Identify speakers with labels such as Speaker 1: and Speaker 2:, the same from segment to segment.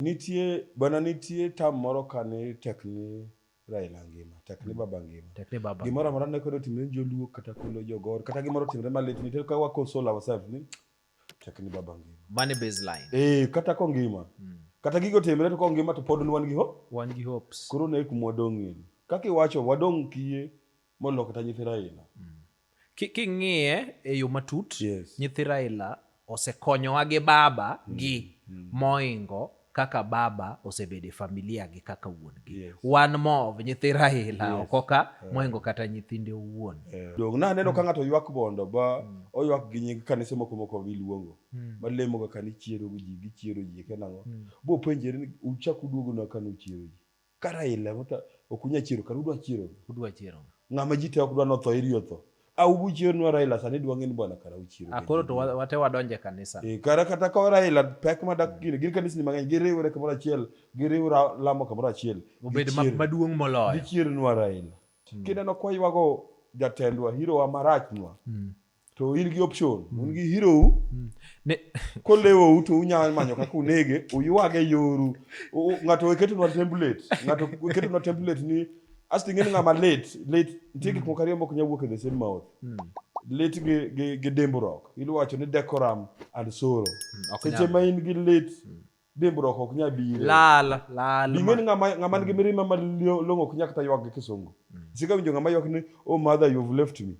Speaker 1: Nitie bana, nitie tam moro kani tekni Raila ngima, tekni baba ngima. Tekni baba. Gimoro amora ne kwedo timre joluo kata kulo jogor kata gimoro timre malit nitie ka wa console ourselves ni tekni baba ngima. Money baseline. Eh, kata ko ngima. Mm. Kata gigo timre to ko ngima to pod wan gi ho. Wan gi hopes. Koro ne kuma wadong'ie. Kaka iwacho wadong' kiye molo kata nyithi Raila. Mm. King'iye e yo matut, yes. nyithi Raila osekonyowa gi baba mm. gi mm. moingo kaka baba osebedo e familia gi kaka wuon gi yes. wan mov nyithi Raila yes. okoka yeah. moingo kata nyithinde owuon yeah. dog na aneno mm. ka ng'ato ywak bondo ba mm. oywak gi nying kanise moko moko biluongo mm. malemo kaka ni chiero ji gichiero ji kenang'o mm. bo penjere uchak uduogo na kanu chiero ji Ka Raila mota okunya chiro kar udwa chiro. Udwa chiro. Ng'ama ji te ok dwa notho iri otho. A ubu chiro nwa Raila sani dwa ng'eni bwana kara uchiro. A koro to wate wadonje e kanisa. E kara kata ka Raila pek ma dak gire gin kanisni mang'eny giriwre kamoro achiel giriwra lamo kamoro achiel. Obed maduong' moloyo. Gichiro nwa Raila. Hmm. Kineno kwa ywago jatendwa hirowa marachnwa. Hmm. to in gi option mm. un gi hero u mm. ne ko lewo u to unya manyo kaka unege uyuage yoru ng'ato oketo na template ng'ato oketo na template ni asti ng'eni ng'ama late late nitie gik mm. moko ariyo mok nya wuok e the same mouth late gi gi gi dimbruok iluwacho ni decorum and sorrow seche ma in gi late dimbruok ok nya bire lal lal bing'eni ng'ama ng'ama nigi mirima ma long'o ok nya kata ywak gi kisungu sika winjo ng'ama ywak ni oh mother you've left me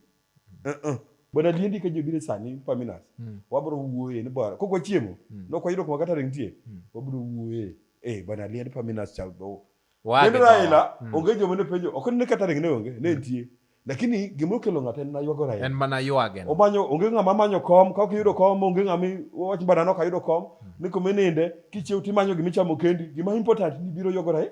Speaker 1: Uh-uh. But adiendi ka ji obiro sani Paminas, mm. wabro wuoye ni bwana, kok wachiemo, mm. nok wayudo kuma kata ring tie, mm. wabro wuoye, eh, bwana adiendi Paminas cha do. Kendo Raila, mm. onge joma ne penjo, ok ne kata ring ne onge, ne mm. nitie. Lakini gima okelo ng'ato en maywago Raila. En mana ywage. Omanyo onge ng'ama manyo kom, ka ok iyudo kom, onge ng'ama wach bwana nok ayudo kom, mm. ni kuma ininde, kichiew timanyo gima ichamo kendi, gima important ni biro ywago Raila.